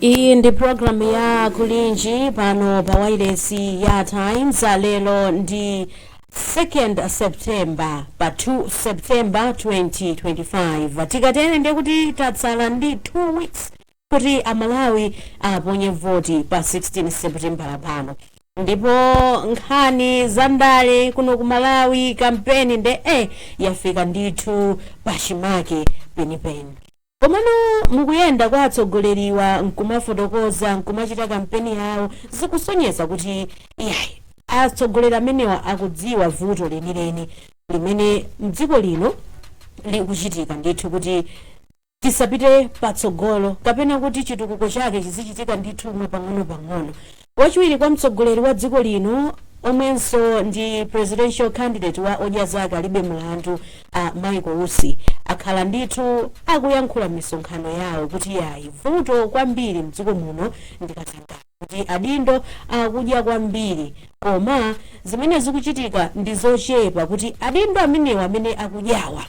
iyi ndi programu ya kulinji pano pa wailesi ya times lero ndi 2nd september pa 2 september 2025 tikatere nde kuti tatsala ndi 2 weeks kuti amalawi aponye voti pa 16 september pano ndipo nkhani za ndale kuno ku malawi kampeni nde eh yafika ndithu pachimake penipeni Komano mukuyenda kwa atsogoleriwa nkumafotokoza nkumachita kampeni yawo zikusonyeza kuti iyayi atsogoleri amenewa akudziwa vuto lenileni limene mdziko lino likuchitika ndithu kuti tisapite patsogolo kapena kuti chitukuko chake chizichitika ndithu mwapang'onopang'ono. Wachiwiri kwa mtsogoleri wa dziko lino omwenso ndi presidential candidate wa Odya Zake Alibe Mlandu a Michael Usi akhala ndithu akuyankhula m'misonkhano yawo kuti yayi vuto kwambiri mdziko muno ndi katangale kuti adindo akudya kwambiri koma zimene zikuchitika ndi zochepa kuti adindo amenewa amene akudyawa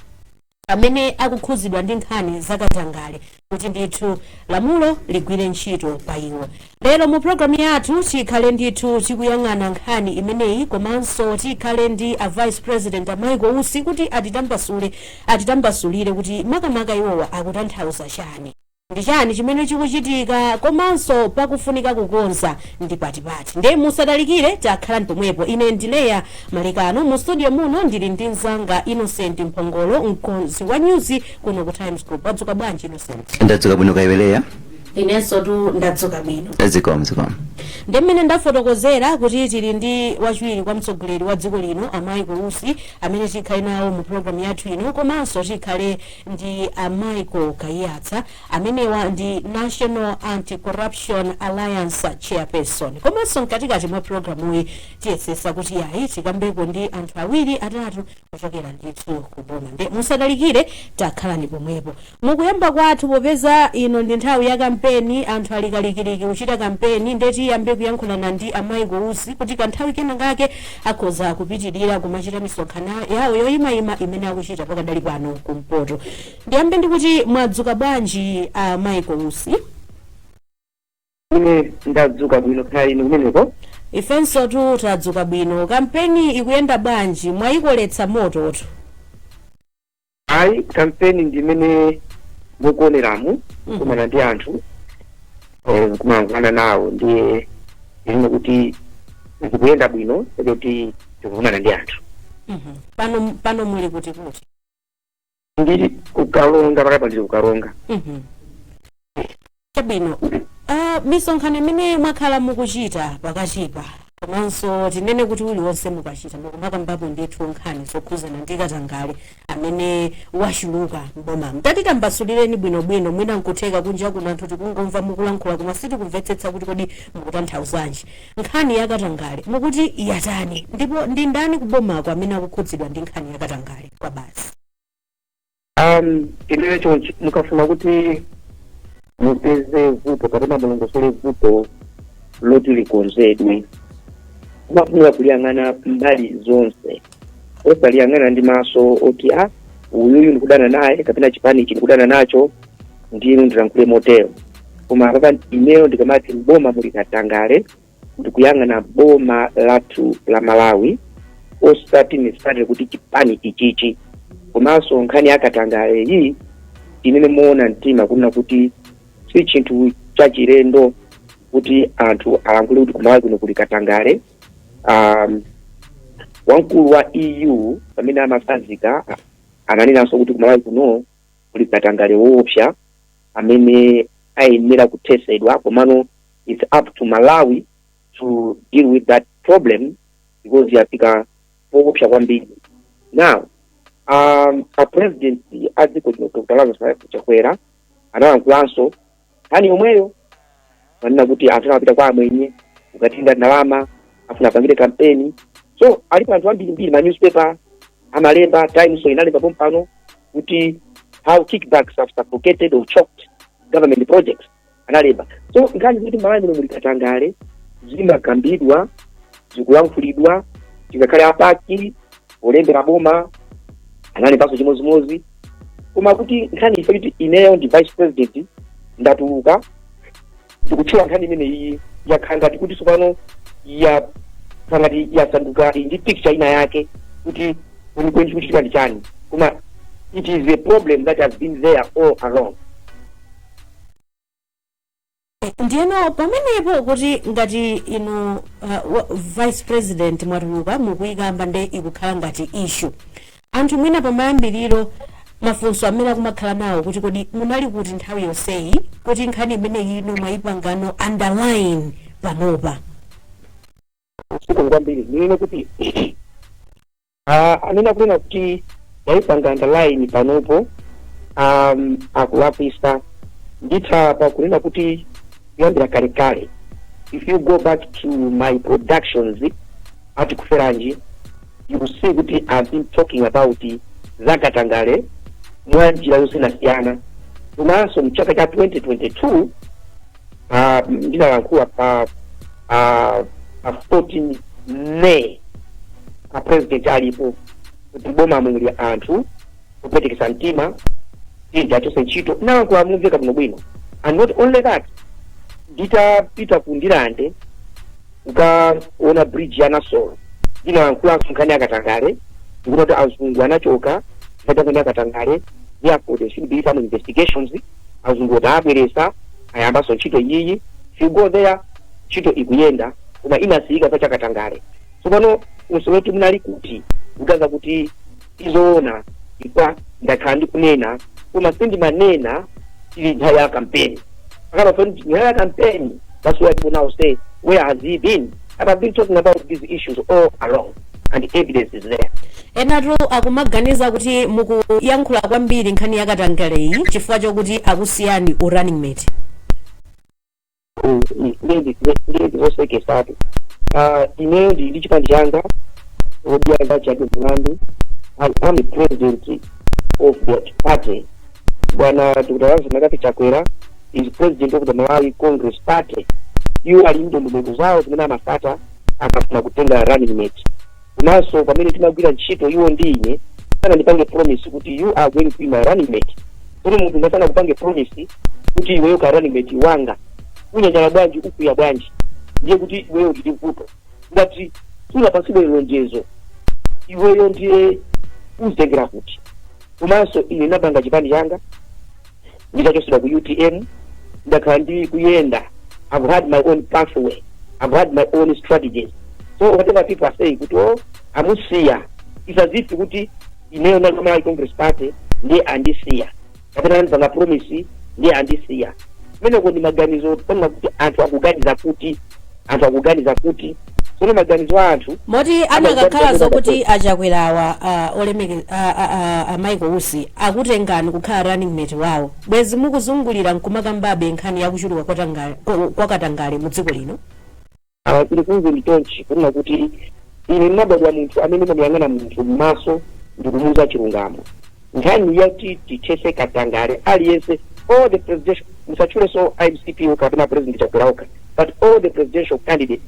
amene akukhuzidwa ndi nkhani za katangale kuti ndithu lamulo ligwire ntchito pa iwo lero mu programu yathu tikhale ndithu tikuyang'ana nkhani imeneyi komanso tikhale ndi a vice president a michael usi kuti atitambasule atitambasulire kuti makamaka iwowa akutanthauza chani ndi chani chimene chikuchitika komanso pakufunika kukonza ndi pati pati nde musatalikire tikhalani pomwepo ine ndi Leah Malekano mu studio muno ndili ndi mnzanga Innocent Mphongolo mkonzi wa nyuzi kuno ku Times Group wadzuka bwanji Innocent ndadzuka bwino kaya iwe Leah inensotu ndadzuka bwino zikomo zikomo ndi mmene ndafotokozera kuti tili ndi wachiwiri kwa mtsogoleri wa dziko lino a Michael Usi amene tikhale nawo mu programu yathu ino komanso tikhale ndi a Michael Kaiyatsa, amenewa ndi National Anti-Corruption Alliance Chairperson. Komanso mkatikati mwa programuyi tiyesesa kuti yayi tikambeko ndi anthu awiri atatu kuchokera ndithu ku boma. Nde musatalikire takhalani pomwepo. Mukuyamba kwathu popeza ino ndi nthawi ya kampeni, anthu ali kalikiliki kuchita kampeni, nde tiyambe kuyankhulana ndi a Michael Usi kuti kanthawi kena kake akhoza kupitilira kumachita misonkhano yawo yoyimayima imene akuchita pakadali pano kumpoto ndiyambe ndikuti mwadzuka bwanji a uh, michael usi ine ndadzuka bwino kaya inu kumeneko ifensotu tadzuka bwino kampeni ikuyenda bwanji mwayikoletsa mototu ayi kampeni ndi imene mukuoneramu kukumana ndi anthu eh, kumayankhulana nawo ndiye ine kuti zikuyenda bwino kuti tikukumana ndi anthu Mhm. pano pano muli kuti kuti ndili ku karonga panopa ndili ku karonga Mhm. Chabwino, uh, misonkhano imene mwakhala mukuchita pakatipa komanso tinene kuti uliwonse mukachita mukumakambapo ndithu nkhani zokhuzana ndi katangale amene wachuluka m'bomamu tatitambasulireni bwinobwino mwina nkutheka kunja kuno anthu tikungomva mukulankhula koma sitikumvetsetsa kuti kodi mukutanthauzanji nkhani ya katangale mukuti yatani ndipo ndi ndani kubomako amene akukhudzidwa ndi nkhani ya katangale kwabasi um ineyo chonchi mukafuna kuti mupeze vuto kapena mulongosole vuto loti likonzedwe umafunika kuliyang'ana mbali zonse osaliyang'ana ndi maso oti a uyuyu ndikudana naye kapena chipani ichi ndikudana nacho ndiye ndilankhule motero koma apapa ineyo ndikamati mboma muli katangale ndikuyang'ana boma lathu la malawi osati nizati kuti chipani ichichi komanso nkhani ya katangale iyi tinene moona mtima kunena kuti si chinthu chachilendo kuti anthu alankhule kuti kumalawi kuno kuli katangale um, wamkulu wa eu pamene amatsanzika ananenanso kuti kumalawi kuno kuli katangale woopsa amene ayenera kuthesedwa komano its up to malawi to deal with that problem because yafika poopsa kwambiri now um, a president a dziko lino dr lazarus chakwera analankhulanso nkhani yomweyo kunena kuti anthu anapita kwa amwenye kukatenga ndalama afuna apangire kampeni so alipo anthu ambirimbiri ma newspaper amalemba times inalemba pompano kuti how kickbacks have suffocated or choked government projects analemba so nkhani zoti malawi muno muli katangale zimakambidwa zikulankhulidwa ngakhale a PAC polembera boma analembanso chimodzimodzi koma kuti nkhani ife kuti ineyo ndi vice president ndatuluka ndikutchula nkhani imeneyi yakhala ngati kuti tsopano ya ngati yasanduka ili ndi picture ina yake kuti kwenikweni chikuchitika ndi chani koma it is a problem that has been there all along ndiyeno pamenepo kuti ngati inu uh, wa- vice president mwatuluka mukuyikamba nde ikukhala ngati issue anthu mwina pamayambiriro mafunso amene akumakhala nawo kuti kodi munali kuti nthawi yonseyi kuti nkhani imeneyi ino mwayipangano underline panopa kwambiri ninene kuti Ah, amene akunena kuti ndayipanga underline panopo um, akulakwisa ndithu pa kunena kuti kuyambira kalekale if you go back to my productions at Tikuferanji you will see kuti i've been talking about zakatangale mwa njira yosiyanasiyana komanso mchaka cha 2022 ah, ndinalankhula pa ah, pa 14 may a president alipo kuti m'boma muli anthu opwetekesa mtima ndiye achose ntchito ndinalankhula momveka bwino bwino and not only that nditapita ku ndirande ukaona bridge ya nasolo ndinalankhulaso nkhani yakatangale kuti azungu anachoka nkhani yakatangale therefore there should be some investigations azungu aja abweranso ayambaso ntchito iyi if you go there ntchito ikuyenda koma inasiyika chifukwa cha katangale tsopano funso loti munali kuti kuthandauza kuti zoona n'kuti ndakhala ndikunena koma sindimanena ili nthawi ya kampeni panopa pa nthawi ya kampeni that's why people now say where has he been and i've been talking about these issues all along and the evidence is there enatu akumaganiza kuti mukuyankhula kwambiri nkhani yakatangaleyi chifukwa chokuti akusiyani u running mate nde izi nzoseketsatu ineyo ndili ndi chipani changa odya zake alibe mlandu i am the president of that party bwana dr lazarus mccarthy chakwera is president of the malawi congress party iwo ali ndi ndondomeko zawo zimene amasata akafuna kutenga running mate komanso pamene timagwira ntchito iwo ndi ine sanandipange promise kuti you are going to be my running mate koma munthu ngati sanakupange promise kuti iweyo ukhala running mate wanga unyanyala bwanji ukwiya bwanji ndiye kuti iweyo uli ndi vuto ngati sunapatsidwe lonjezo iweyo ndiye uzitengera kuti komanso ine napanga chipani changa nditachotsedwa ku utm ndakhala ndi kuyenda i've had my own pathway i've had my own strategies so whatever people are saying kuti o amusiya it's as if kuti ineyo ndinali wa malawi congress party ndiye andisiya kapena anandipanga promise ndiye andisiya kumeneko ndi maganizo poona kuti anthu akuganiza kuti anthu akuganiza kuti tsono maganizo a anthu moti akanakhala zokuti achakwerawa ah, olemeke- ah, ah, ah, ah, michael usi akutengani kukhala running mate wawo bwezi mukuzungulira nkumakambabe nkhani yakuchuluka kwa tanga- kwa- kwa katangale mu dziko lino Ah, ndikuuze ndithu chonchi kunena kuti ine ndinabadwa munthu amene ndimamuyang'ana munthu m'maso ndikumuuza chilungamo nkhani yoti tithese katangale aliyense all the presidential musatchulenso mcp okha kapena president chakwera okha but all the presidential candidates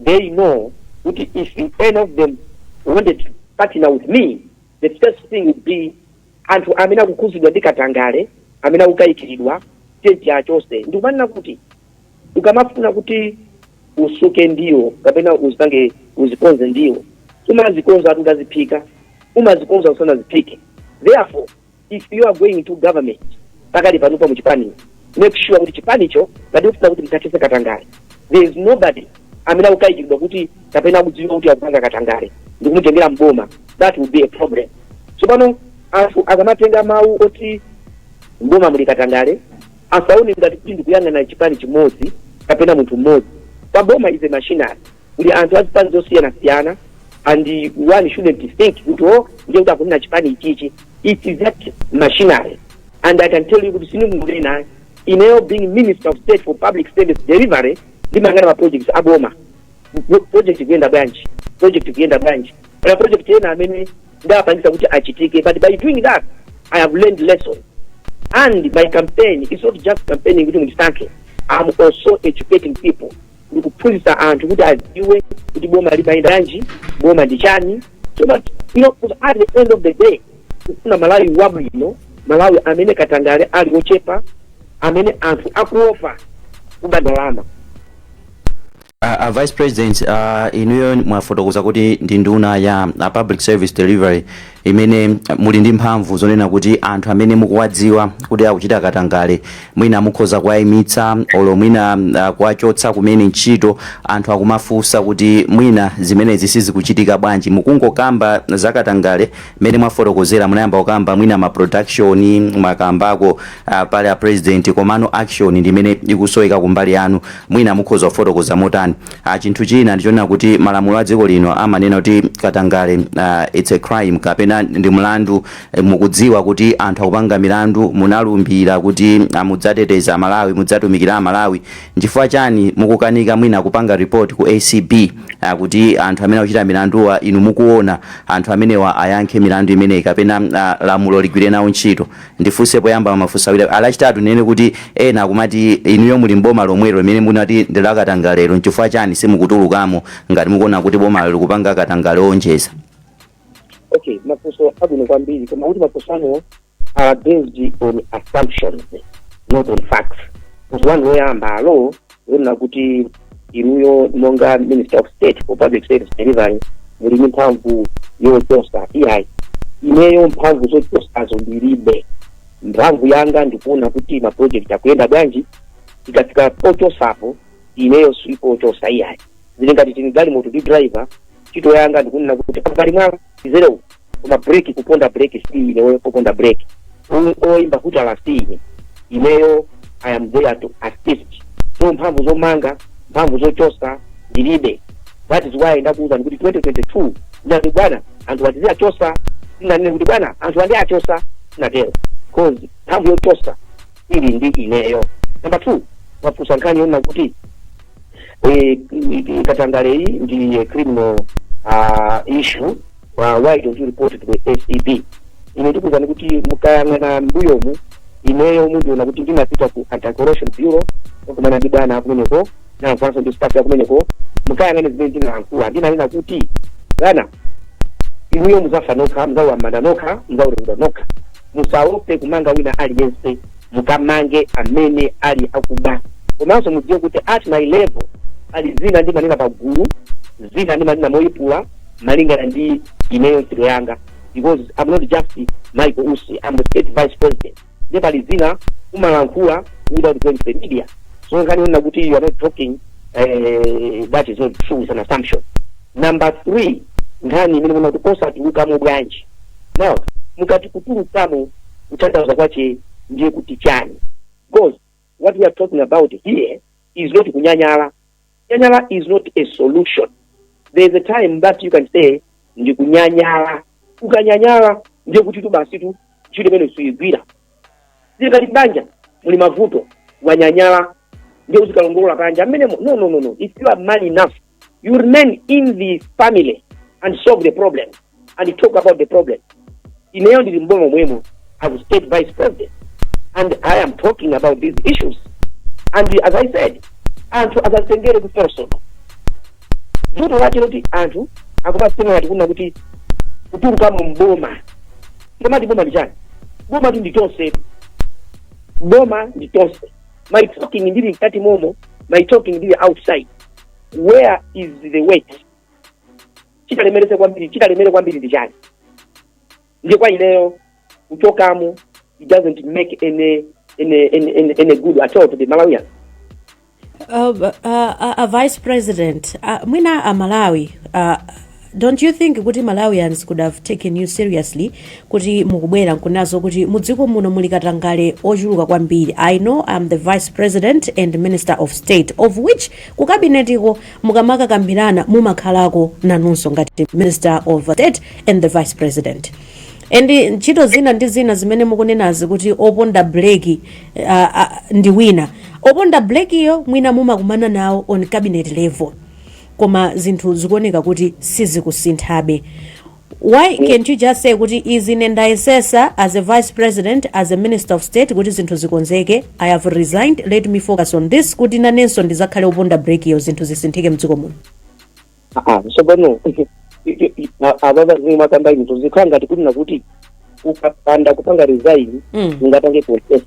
they know kuti if any of them wanted to partner with me the first thing would be anthu amene akukhudzidwa ndi katangale amene akukayikiridwa tenti achose ndikumanena kuti ukamafuna kuti usuke ndiwo kapena uzipange uzikonze ndiwo umazikonza ati utaziphika umazikonza usanaziphike therefore if you are going to government pakali pano pa muchipani make sure kuti chipanicho ngati ufuna kuti mthathese katangale there is nobody amene akukayikiridwa kuti kapena akudziwika kuti akupanga katangale ndikumutengera mboma that will be a problem so pano anthu akamatenga mawu oti mboma muli katangale Asaone ngati kuti ndikuyang'ana chipani chimodzi kapena munthu mmodzi. Pa boma is a machinery. Kuli anthu a zipani zosiyanasiyana and one shouldn't think kuti oh ndiye kuti akunena chipani ichichi. It is that machinery and I can tell you kuti sindikungonena ayi. Ineyo being Minister of State for Public Service Delivery ndimayang'ana ma projects a boma. Project ikuyenda bwanji? Project ikuyenda bwanji? Kaya project ena amene ndawapangisa kuti achitike but by doing that i have learned lessons and my campaign is not just campaigning kuti mundisankhe i'm also educating people ndikuphunzitsa anthu kuti adziwe kuti boma limayenda bwanji boma ndi chani so that you know 'cause at the end of the day kufuna malawi wabwino malawi amene katangale ali ochepa amene anthu akuopa kuba ndalama A, a vice president uh, inuyo mwafotokoza kuti ndi nduna ya uh, public service delivery imene uh, muli ndi mphamvu zonena kuti anthu amene mukuwadziwa kuti akuchita katangale mwina mukhoza kuwayimitsa olo mwina uh, kuwachotsa kumene ntchito anthu akumafunsa kuti mwina zimenezi sizikuchitika bwanji mukungokamba zakatangale Mmene mwafotokozera munayamba kukamba mwina ma production mwakambako ah, pali a president komano action ndi imene ikusoweka kumbali yanu mwina mukhoza kufotokoza motani ah, chinthu china ndichonena kuti malamulo a dziko lino amanena kuti katangale ah, it's a crime kapena ndi mlandu Eh, mukudziwa kuti anthu akupanga milandu munalumbira kuti ah, mudzateteza amalawi mudzatumikira amalawi Nchifukwa chani mukukanika mwina kupanga report ku acb kuti anthu amene akuchita milanduwa inu mukuona anthu amenewa ayankhe milandu imeneyi kapena lamulo ligwire nawo ntchito? Ndifunse poyamba mafunso awiri a lachitatu ndinene kuti ena akumati inuyo muli m'boma lomwelo limene munati ndi la katangalero nchifukwa chani simukutulukamo ngati mukuona kuti bomalo likupanga katangale owonjeza? Okay, mafunso abwino kwambiri koma kuti mafunso anuwo are based on assumptions not on facts one woyamba alo yonena kuti inuyo monga minister of state for public service delivery muli ndi mphamvu yochosa iyayi ineyo mphamvu zochosazo ndilibe mphamvu yanga ndikuona kuti maproject akuyenda bwanji tikafika pochosapo ineyo sipochosa iyayi zili ngati tili m'galimoto ndi driver ntchito yanga ndikunena kuti apa pali mwala izelewu koma break kuponda break si ineyo kuponda break oimba hutala si ineyo i am there to assist so mphamvu zomanga mphamvu zochosa ndilibe that is why ndakuuzani kuti 2022 ndati bwana anthu atizi achotseni sinanene kuti bwana anthu andi achosa sinatero cause mphamvu yochosa ili ndi ineyo number two mwafunsa nkhani yonena kuti eh, katangale iyi ndi eh, criminal ah, issue uh, why don't you report to the acb ine ndikuwuzani kuti mukayang'ana mbuyomu ineyo mundiona kuti ndinapita ku anti-corruption bureau kukumana ndi bwana akumeneko komanso ndi staff yakumeneko mukayang'ane zimene ndinalankhula ndinanena kuti bwana inuyo muzafa nokha muzalowa m'manda nokha muzaweruzidwa nokha musaope kumanga wina aliyense mukamange amene ali akuba komanso mudziwe kuti at my level pali zina ndimanena pagulu zina ndimanena moyipula malingana ndi ineyo ntchito yanga because I'm not just Michael Usi I'm the state vice president nde pali zina umalankhula without going to the media so nkhani yonena kuti you are not talking eh, that is not true is an assumption number three nkhani imene mukunena kuti osatulukamo bwanji now mukati kutulukamo kutanthauza kwache ndiye kuti chani because what we are talking about here is not kunyanyala Kunyanyala is not a solution. There is a time that you can say ndikunyanyala. Ukanyanyala ndiye kuti tu basi tu ntchito imeneyo suyigwira. Zili ngati banja muli mavuto wanyanyala ndiye uzikalongolola panja mmenemo. No, no, no, no. If you are man enough, you remain in the family and solve the problem. and talk about the problem ineyo ndili mboma mwemo as state vice president and i am talking about these issues and as i said anthu asazitengere kupersonal vuto lache n'loti anthu akumazitenga ngati kunena kuti kutuluka mu mboma ndimati boma ndi chani boma tu ndi tonse boma ndi tonse my talking ndili mkati momo my talking ndili outside where is the weight chitalemerese kwambiri chitalemere kwambiri ndi chani ndiye kwa ineyo kuchokamo it doesn't make any any any, any, any good at all to the malawian Uh, b- uh, uh, a vice president uh, mwina aMalawi uh, don't you think kuti malawians could have taken you seriously kuti mukubwera nkunena zo kuti mudziko muno muli katangale ochuluka kwambiri i know i am the vice president and minister of state of which ku kabinetiko mukamakakambirana mumakhalako nanunso ngati minister of state and the vice president and ntchito zina ndi zina zimene mukunenazi kuti oponda breki uh, uh, ndi wina oponda brekiyo mwina mumakumana nawo on cabinet level koma zinthu zikuoneka kuti sizikusinthabe Why cant you just say kuti izi ine ndayesesa as a vice president, as a minister of state kuti zinthu zikonzeke, I have resigned, let me focus on this kuti nanenso ndizakhale oponda brekiyo zinthu zisinthike mdziko muno. Aha, so pano abale zimene mukukamba izo zikukhala ngati kuti nkuti ukapanda kupanga resign Mm. ungapange contest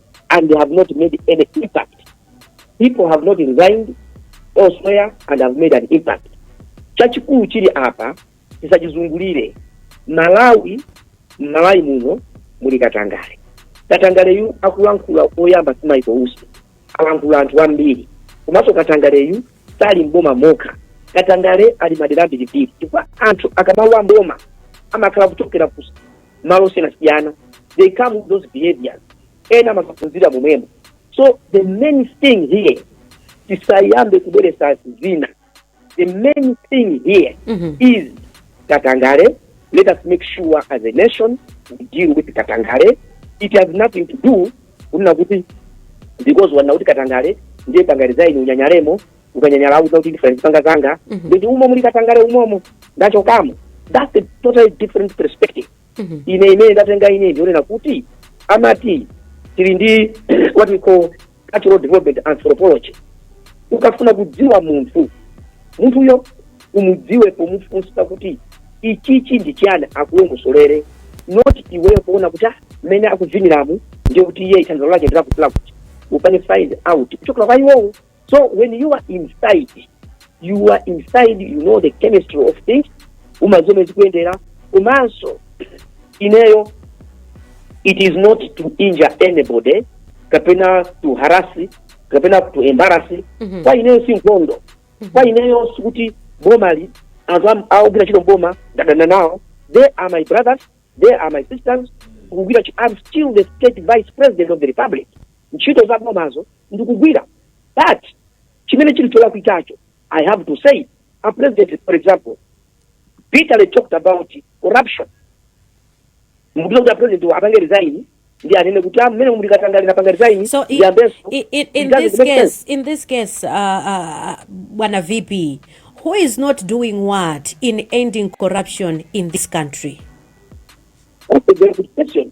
and they have not made any impact. People have not resigned elsewhere and have made an impact. Chachikulu chili apa tisachizungulire mMalawi Malawi muno muli katangale. Katangaleyu akulankhula oyamba si Michael Usi alankhula anthu ambiri komanso katangaleyu sali mboma mokha katangale ali madera ambirimbiri chifukwa anthu akamalowa mboma amakhala kuchokera ku malo osiyanasiyana they come with those behaviors ena amakaphunzira momwemo so the main thing here tisayambe kubweresa zina the main thing here Mhm. is katangale let us make sure as a nation we deal with katangale it has nothing to do kunena kuti because wanena kuti katangale ndiye pangani resign unyanyalemo ukanyanyala auza kuti ndifuna ndipanga zanga Mhm. nditi umo muli katangale umomo ndachokamo that's a totally different perspective Mhm. ine imene ndatenga ine ndi yonena kuti amati tili ndi what we call cultural development anthropology ukafuna kudziwa munthu munthuyo umudziwe pomufunsa kuti ichichi ndi chiyani akulongosolere not iweyo kuona kuti ah, mmene akuviniramu ndiye kuti iye ithandizo lake ndilakutilakuti upange find out kuchokera kwa iwowo so when you are inside you are inside you know the chemistry of things umadziwa momwe zikuyendera komanso ineyo it is not to injure anybody kapena to harass kapena to embarrass Mhm. kwa ineyo si nkhondo kwa ineyo sikuti bomali, anthu am- akugwira ntchito mboma ndadana nawo they are my brothers they are my sisters kugwira ntchito i'm still the state vice president of the republic ntchito za bomazo ndikugwira but chimene chili cholakwikacho i have to say a president for example bitterly talked about corruption mukuti kuti a president apange resign ndi anene kuti amene muli katangale napanga resign So i- ndiyambenso i- i- in It doesn't this make sense. case, in this case, uh, uh, Bwana VP, who is not doing what in ending corruption in this country? That's a very good question.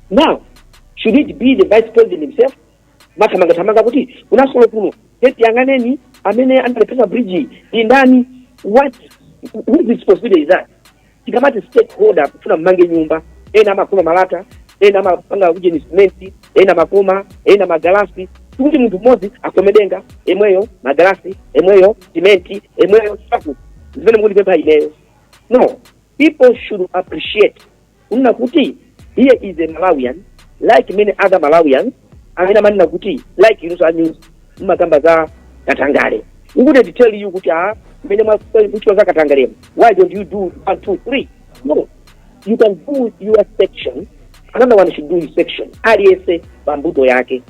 now should it be the vice president himself mathamangathamanga kuti ku Nasolo kuno eti yang'anani amene analephetsa bridge ndi ndani what whose responsibility is that tikamati stakeholder kufuna mmange nyumba ena amakoma malata ena amapanga kujeni simenti ena makoma ena magalasi tikuti munthu mmodzi akomedenga emweyo magalasi emweyo simenti emweyo ndiye zimene mukundipempha ineyo no people should appreciate kunena kuti here is a malawian like many other malawians amene amanena kuti like inuso a news mmakamba za katangale we will tell you kuti amene mukuchita za katangalemu why don't you do one two three no you can do your section another one should do his section aliyense pa mbuto yake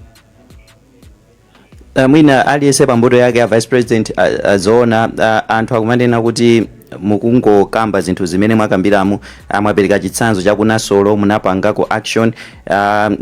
Uh, mwina aliyense pa mbuto yake a vice president uh, uh, zoona uh, anthu akumanena kuti mukungokamba zinthu zimene mwakambiramo mwapereka chitsanzo cha ku Nasolo munapangako action uh,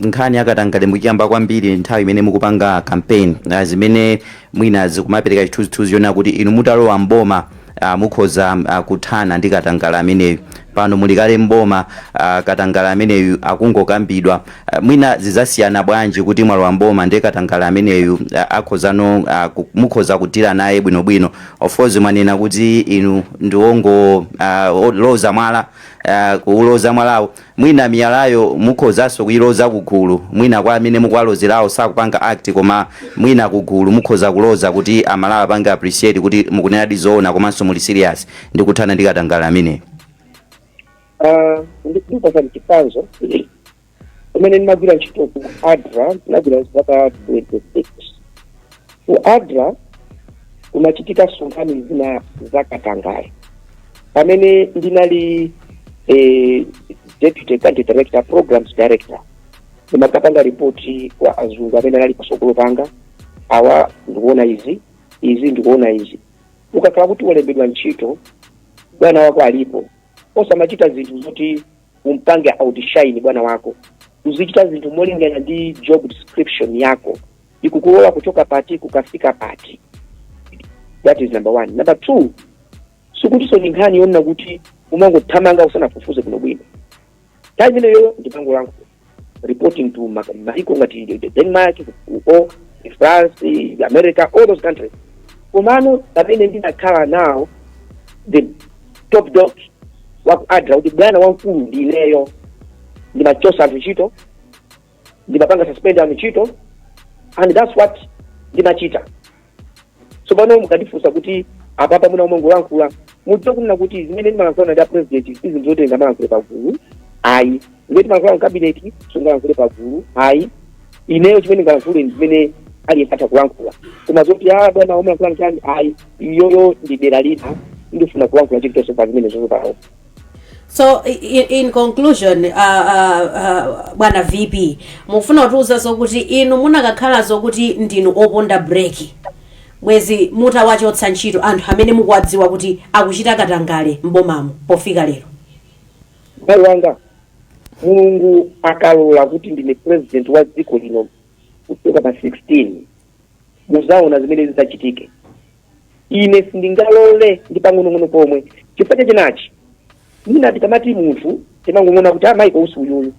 nkhani yakatangale munkaikamba kwambiri nthawi imene mukupanga campaign uh, zimene mwina zikumapereka chithunzithunzi choona kuti inu mutalowa mboma a Mukhoza a kuthana ndi katangale ameneyu. Pano muli kale m'boma, a katangale ameneyu akungokambidwa. A, Mwina zidzasiyana bwanji kuti mwalowa m'boma ndi katangale ameneyu a, akhozano a, ku- mukhoza kuthana naye bwinobwino. Of course mwanena kuti inu ndi wongo a, o- loza mwala a, kuuloza mwalawo Mwina miyalayo mukhozanso kuiloza kugulu, mwina kwa amene mukuwalozerawo sakupanga act koma mwina kugulu mukhoza kuloza kuti a Malawi apange appreciate kuti mukunenadi zoona komanso muli serious ndi kuthana ndi katangale ameneyu. Ah, ndikupatsani chitsanzo kumene ndimagwira ntchito ku ADRA ndinagwira zaka 26 ku ADRA kunachitikanso nkhani zina za katangale pamene ndinali eh, deputy country director programs director ndimakapanga ripoti kwa azungu amene anali patsogolo panga awa ndikuona izi izi ndikuona izi ukakhala kuti walembedwa ntchito bwana wako alipo osamachita zinthu zoti umpange outshine bwana wako uzichita zinthu molingana ndi job description yako ikukulola kuchoka pati kukafika pati that is number one number two sikutinso ndi nkhani yonena kuti umangothamanga usanafufuze bwino bwino time imeneyo ndikupanga reporting to ma- maiko ngati the- the denmark the france the america all those countries komano pamene ndinakhala nawo the top dog waku adra kuti bwana wamkulu ndineyo ndimachosa anthu ntchito ndimapanga suspend anthu ntchito and that's what ndimachita so pano mukandifunsa kuti apapa munthu omwe ukulankhula udziwa kunena kuti zimene ndimalankhulana ndi apresident si zinthu zoti ndingamalankhule pagulu ayi zimene timalankhulana mkabineti sungalankhule pagulu ayi ineyo chimene ndingalankhule ndi zimene aliyense atha kulankhula koma zoti a bwana omwe amalankhula chani ayi iyoyo ndi dera lina sindifuna kulankhula chilichonse pa zimene zozopawo so i- i- in conclusion uh, uh, uh, bwana vp mufuna kutiuza zokuti inu munakakhala zokuti ndinu oponda breki bwezi mutawachotsa ntchito anthu amene mukuwadziwa kuti akuchita katangale m'bomamo pofika lero mbale wanga mulungu akalola kuti ndine president wa dziko lino kuchoka pa 16 muzaona zimene zidzachitike ine sindingalole ndi pang'onong'ono pomwe chifukwa cha chinachi mwina tikamati munthu timangong'ona kuti a michael usi uyuyu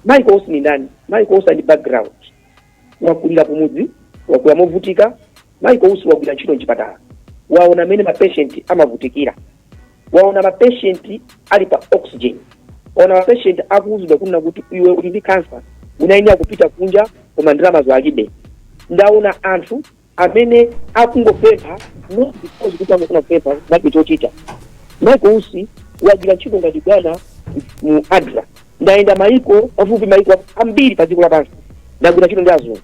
michael usi ni ndani michael usi ali background wakulira kumudzi wakula movutika michael usi wagwira ntchito mchipatala waona mmene mapeshenti amavutikira waona mapeshenti ali pa oxygen waona mapeshenti akuuzidwa kunena kuti iwe uli ndi kansa unayenera kupita kunja koma ndalamazo alibe ndaona anthu amene akungopempha not because kuti amafuna kupempha koma alibe chochita michael usi wagwira ntchito ngati bwana mu adra ndayenda maiko pafupi maiko ambiri pa dziko lapansi ndagwira ntchito ndi azungu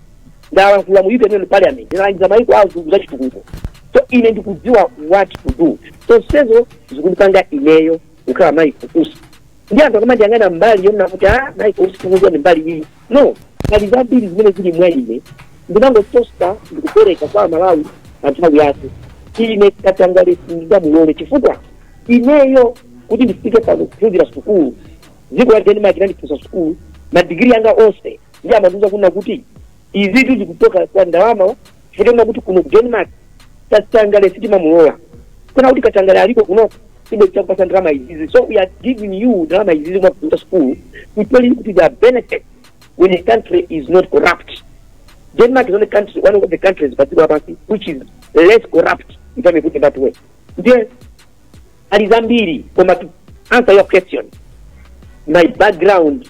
ndalankhula mu european parliament ndalangiza maiko a azungu za chitukuko so ine ndikudziwa what to do zonsezo zikundipanga ineyo kukhala michael usi ndi anthu akamandiyang'ana mbali yonena kuti a michael usi tikuziwa ndi mbali iyi no pali zambiri zimene zili mwa ine zimene ndingathe kupereka kwa amalawi pa nthawi yake ine katangale sindingamulole chifukwa ineyo kuti ndifike pano kuphunzira sukulu dziko la denmark linandiphunzitsa sukulu madigiri anga onse ndiye amandiuza kunena kuti izitu zikuchoka kwa ndalama chifukwa kuti kuno ku denmark katangale sitimamulola kukanakhala kuti katangale alipo kuno sibwenzi tikupasa ndalama izizi so we are giving you ndalama izizi mwaphunzira school to tell you kuti there are benefits when a country is not corrupt denmark is only country one of the countries padziko lapansi which is less corrupt if i may put it that way ndiye pali zambiri koma to answer your question my background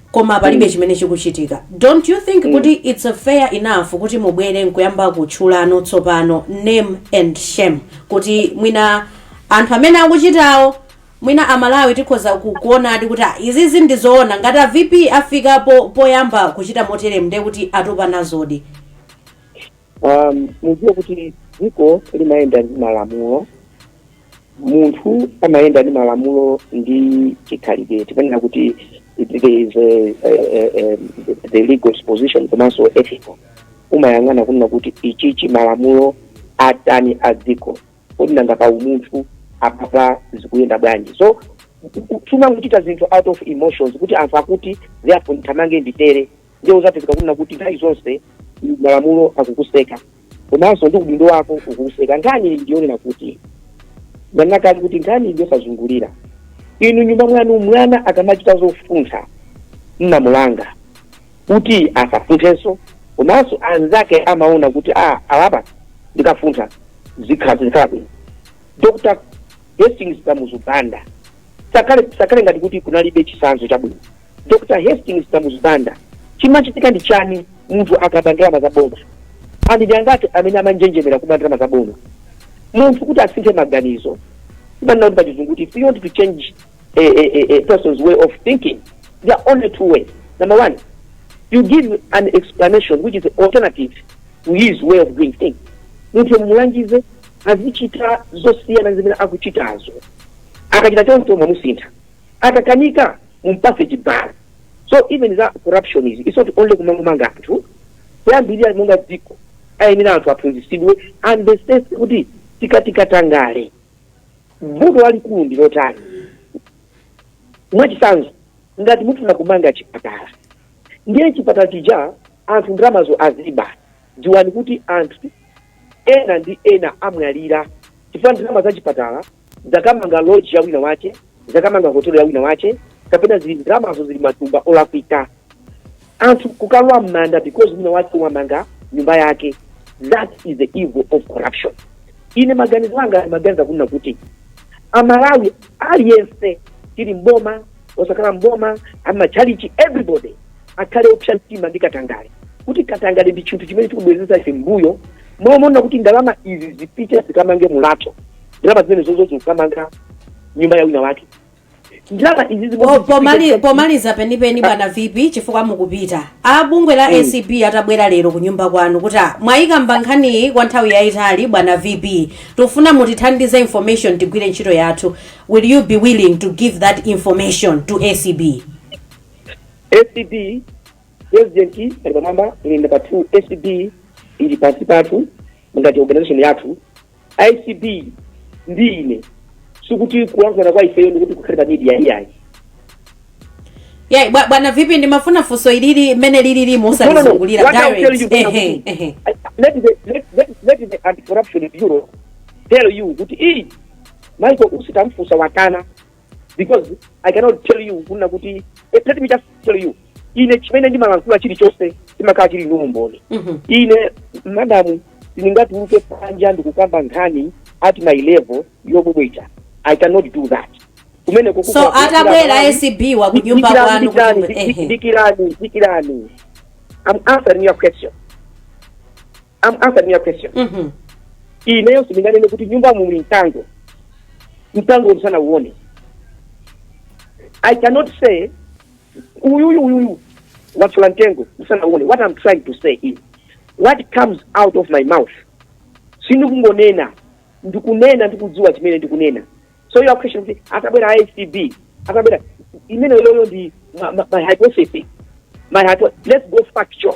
koma palibe mm. chimene chikuchitika don't you think mm. kuti it's a fair enough kuti mubwere nkuyamba kutchulano tsopano name and shame kuti mwina anthu amene akuchitawo mwina amalawi tikhoza kuonadi kuti ah, izizi ndi zoona ngati a vp afika po, poyamba kuchita moteremu ndiye kuti atopa nazodi Um, mudziwe kuti dziko limayenda ndi malamulo munthu amayenda ndi malamulo ndi chikhalidwe timanena kuti there is a, a, a, a, the legal disposition komanso ethical umayang'ana kunena kuti ichichi malamulo atani a dziko kodi nanga pa umunthu apapa zikuyenda bwanji so sumangochita zinthu out of emotions kuti anthu akuti therefore ndithamange nditere ndiye uzapezeka kunena kuti nthawi zonse malamulo akukuseka komanso ndi udindo wako ukukuseka nkhani ili ndiyonena kuti nanakali kuti nkhani ili yosazungulira inu nyumba mwanu mwana akamachita zofuntha mumamulanga kuti asafunthenso komanso anzake amaona kuti alapa ndikafuntha zikhala bwino dr hastings kamuzu banda sakale ngati kuti kunalibe chisanzo chabwino dr hastings kamuzu banda chimachitika ndi chani munthu akaba ndalama za boma anthu ndi angati amene amanjenjemera kuba ndalama za boma munthu kuti asinthe maganizo timanena kuti pachizungu kuti if you want to change a, a, a, a person's way of thinking there are only two ways number one you give an explanation which is alternative to his way of doing things munthu mumulangize azichita zosiyana zimene akuchitazo akachita choncho mwamusintha akakanika mumpase chibalo so even za corruption izi it's not only kumangomanga anthu kuyambira monga dziko ayenera anthu aphunzisidwe to understand kuti tikati katangale vuto lalikulu ndi lotani mwachisanzo ngati mufuna kumanga chipatala ndiye chipatala chija anthu ndalamazo aziba Dziwani kuti anthu ena ndi ena amwalira chifukwa ndalama za chipatala zakamanga lodge ya wina wache, zakamanga hotelo ya wina wache, kapena zili ndalamazo zili matumba olakwika. Anthu kukalowa m'manda because wina wache wamanga nyumba yake. That is the evil of corruption. Ine maganizo anga ndimaganiza kunena kuti Amalawi aliyense tili mboma osakhala mboma amachalichi everybody akhale opsa mtima ndi katangale kuti katangale ndi chinthu chimene chikubwezeretsa ife mbuyo momona kuti ndalama izi zipite zikamange mulatho ndalama zomwezozo zikukamanga nyumba ya wina wake ndalama izi zimene Po- pomali- zipite- pomaliza penipeni bwana vp chifukwa mukupita a bungwe la acb atabwera lero ku nyumba kwanu kuti "Ah, mwayikamba nkhaniyi kwa nthawi yayitali bwana vp tikufuna mutithandize information tigwire ntchito yathu Will you be willing to give that information to ACB? acb president ali pamwamba ine ndi number two acb ili pansi pathu ngati organization yathu acb ndi ine sikuti kulankhulana kwa ifeyo ndikuti kukhale pa media iyayi Yeah, bwa- bwana vipi ndimafuna funso ilili mmene lilili No, no, no. musalizungulire What I'll tell you, direct. Bwana Ehe, Mkulu, ehe. I- let the- let- let- let the anti-corruption bureau tell you kuti iyi Michael Usi tamfunsa wakana because I cannot tell you kunena kuti eh, let me just tell you ine chimene ndimalankhula chilichonse chimakhala chili ndi umboni Mhm. ine madamu ndingatuluke panja ndikukamba nkhani at my level yobwebweta i cannot do that kumene kuku- so atabwera acb wo ku nyumba Dikirani, kwanu dikirani, kuti- dik- ehe. dikirani dikirani i'm answering your question I'm answering your question Mhm. ineyo sindinganene kuti m'nyumba muli mkango mkango ndisanauone i cannot say uyuyu uyuyu wathyola mtengo ndisanauone what i'm trying to say is what comes out of my mouth sindikungonena ndikunena ndikudziwa chimene ndikunena so your question kuti atabwera acb atabwera imene yoyo ndi ma- ma- my hypothesis my hypo let's go factual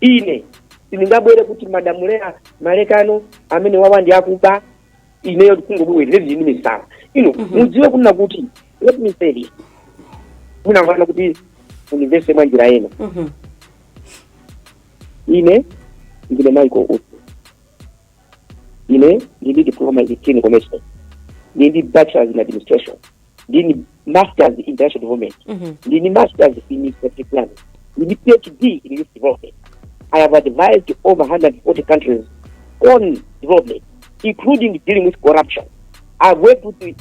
ine sindingabwere kuti madamu Leah Malekano amenewa awa ndi akuba ineyo kungobwera ndili ndi misala ino mudziwe kunena kuti let me say this musanayambe kuti mundimvetse mwa njira ina Mhm. ine ndine michael usi ine ndili ndi diploma in clinical medicine ndili ndi bachelors in administration ndili ndi masters in international development Mhm. ndili ndi masters in strategic planning ndili ndi phd in youth development i have advised over 140 countries on development including dealing with corruption i've worked with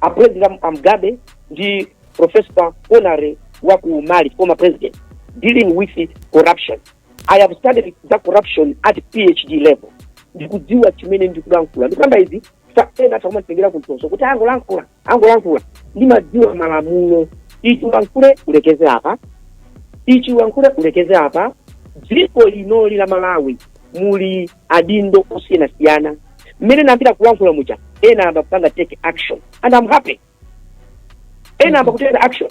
a president Am- Mugabe ndi professor Konare wa ku mali former president dealing with corruption i have studied za corruption at phd level ndikudziwa chimene ndikulankhula ndikukamba izi ena akumatengera kumtoso kuti angolankhula angolankhula ndimadziwa malamulo ichi ulankhule ulekeze apa ichi ulankhule ulekeze apa dziko linoli la malawi muli adindo osiyanasiyana mmene ndayambira kulankhula muja ena ayamba kupanga take action and I'm happy ena ayamba kutenga action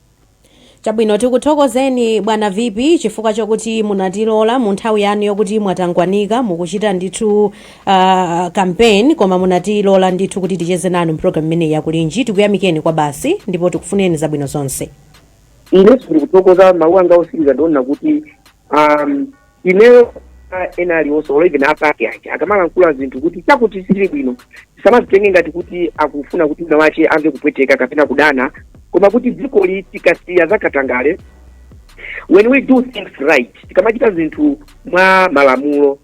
Chabwino, tikuthokozeni bwana VP chifukwa chokuti munatilola mu nthawi yanu yokuti mwatangwanika mukuchita ndithu uh, campaign koma munatilola ndithu kuti ticheze nanu mpulogalamu imeneyi ya Kulinji tikuyamikeni kwabasi ndipo tikufunireni zabwino zonse. inenso ndikuthokoza mawu anga otsiriza ndi onena kuti um, ineyo ah, ena aliwonse or even apake ake akamalankhula zinthu kuti chakuti sizili bwino tisamazitenge ngati kuti akufuna kuti wina wache amve kupweteka kapena kudana koma kuti dzikoli tikasiya zakatangale when we do things right tikamachita zinthu mwa malamulo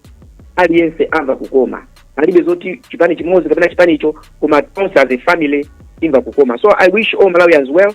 aliyense amva kukoma palibe zoti chipani chimodzi kapena chipani icho koma tonse as a family imva kukoma so i wish all malawians well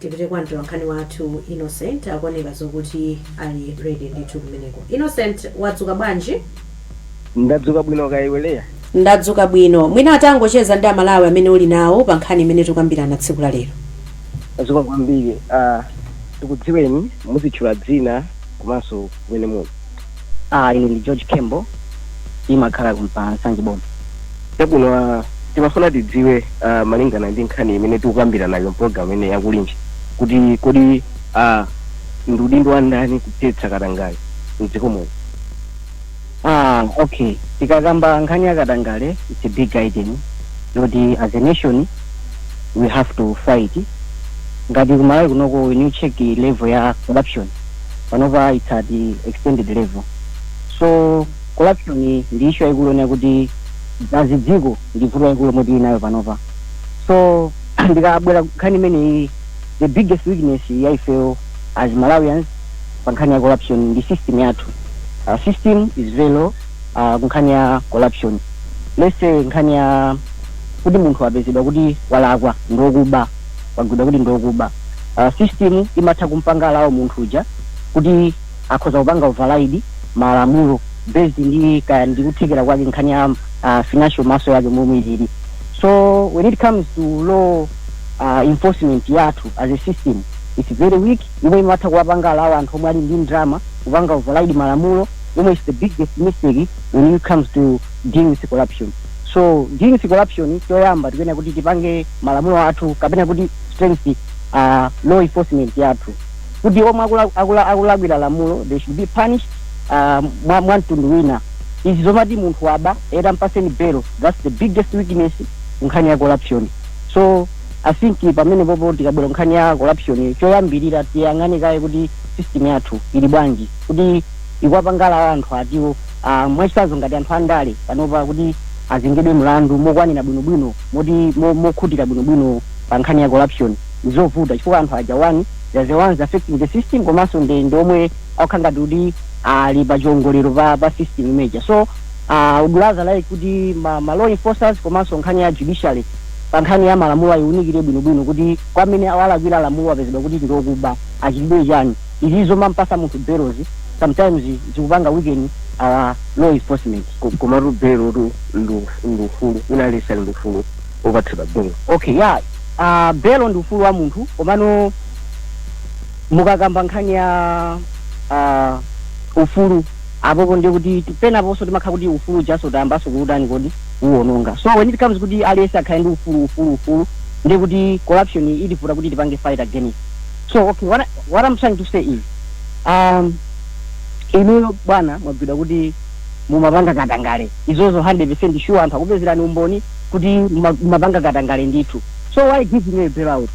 Tipite kwa mtolankhani wathu Innocent akuoneka zokuti ali ready ndithu kumeneko. Innocent wadzuka bwanji? Ndadzuka bwino kaya iwe Leah? Ndadzuka bwino. Mwina utangocheza ndi a Malawi amene uli nawo pa nkhani imene tikukambirana tsiku la lero. Zikomo kwambiri. Tikudziweni, muzitchula dzina komanso kumene muli. Ah, ine ndi George Khembo ndimakhala konkuno pa Nsanje Boma. Chabwino ah, timafuna tidziwe ah, malingana ndi nkhani imene tikukambirana nayo mpologalamu imeneyi ya Kulinji kuti kodi ah, ndi udindo wa ndani kuthetsa katangale mdziko muno. Ah, okay. Tikakamba nkhani ya katangale, it's a big item. Yoti as a nation we have to fight. Ngati ku Malawi kunoko when you check level ya corruption panopa its at the extended level so corruption ndi issue yaikulu yonena kuti as dziko ndi vuto laikulu lomwe tili nalo panopa so tikabwera nkhani imeneyi the biggest weakness ya ifeyo as malawians pa nkhani ya corruption ndi system yathu uh, system is very low uh, kunkhani ya corruption let's say nkhani ya kuti munthu apezedwa kuti walakwa ndi wokuba wagwidwa kuti ndi okuba uh, system imatha kumpanga allow munthu uja kuti akhoza kupanga override malamulo based ndi kaya ndi kuthekera kwake nkhani ya uh, financial muscle yake momwe ilili so when it comes to law uh, enforcement yathu as a system it's very weak yomwe imatha kuwapanga allow anthu omwe ali ndi ndrama kupanga override malamulo yomwe is the biggest mistake when it comes to deal with corruption so deal with corruption choyamba tikuyenera kuti tipange malamulo athu kapena kuti strength uh, law enforcement yathu kuti omwe akula- akula- akulakwira lamulo they should be punished uh, mwa, mwa mtundu wina izi zomati munthu waba eti ampatseni belo that's the biggest weakness nkhani ya corruption so i think pamenepopo tikabwera nkhani ya corruption choyambirira tiyang'ane kaye kuti system yathu ili bwanji kuti ikuwapanga allow anthu athuwo Ah, mwachitsanzo ngati anthu andale panopa kuti azengedwe mlandu mokwanira bwinobwino moti mo- mokhutira bwinobwino pa nkhani ya corruption ndizovuta chifukwa anthu aja one they are the ones affecting the system komanso ndi ndi omwe akukhala ngati kuti ali pa chiongolero pa, pa system imeja so ah, I would rather like kuti ma, ma law enforcers komanso nkhani ya judiciary pa nkhani ya malamulo ayiunikire bwinobwino kuti kwa amene walakwira lamulo apezedwa kuti ndi okuba achitidwe chani izi zomampasa munthu bail-zi sometimes zikupanga weaken our law enforcement. Komatu bail tu ndi ufulu, wina aliyense ali ndi ufulu wopatsidwa bail. Okay ya aah bail ndi ufulu wa munthu komano mukakamba nkhani ya aah ufulu apopo ndi kuti penaponso timakhala kuti ufulu ujanso tayambanso kuutani kodi kuuononga so when it comes kuti aliyense akhale ndi ufulu ufulu ufulu ndi kuti corruption itivuta kuti tipange fight against. so okay what, I- what i'm trying to say is um, inuyo bwana mwagwidwa kuti mumapanga katangale izozo 100 percent sure anthu akupezerani umboni kuti muma- mumapanga katangale ndithu so why give me a bailout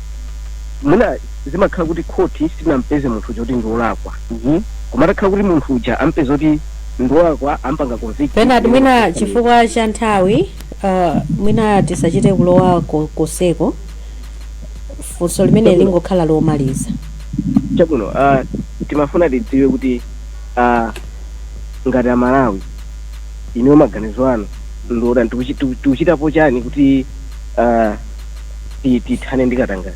mwina zimakhala kuti khoti silinampeze munthu uja kuti ndiolakwa Mhm. koma atakhala kuti munthu uja ampeza kuti ndiolakwa ampanga convict Bernard mwina chifukwa cha nthawi uh, mwina tisachite kulowa ko- koseko funso limene Chabwino. lingokhala lomaliza chabwino uh, timafuna tidziwe kuti uh, ngati amalawi inuyo maganizo anu ndi otani tikuchi- tiku- tikuchitapo chani kuti uh, ti- tithane ndi katangale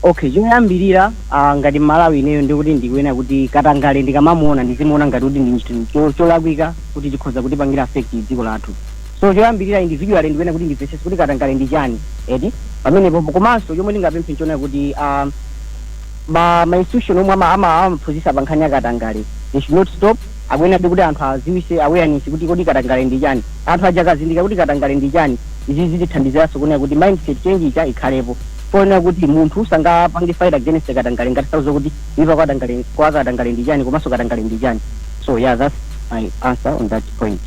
okay choyambirira ah, ngati mmalawi ineyo ndikuti ndikuyenera kuti katangale ndikamamuona ndizimuona ngati kuti ndi chinthu cho- cholakwika kuti chikhoza kutipangira affect dziko lathu So choyambilira individually ndikuyenera kuti ndimvetsetse kuti katangale ndi chani eti pamenepopo komanso chomwe ndingapemphe nchonena kuti aah ma ma institution omwe ama ama amaphunzitsa pa nkhani ya katangale they should not stop akuyenerabe kuti anthu awadziwitse awareness kuti kodi katangale ndi chani anthu aja akazindikira kuti katangale ndi chani izi zitithandiziranso kunena kuti mindset change ija ikhalepo ponena kuti munthu sangapange fight against katangale ngati sakudziwa kuti kuipa kwa tangale kwa katangale ndi chani komanso katangale ndi chani so yeah that's my answer on that point.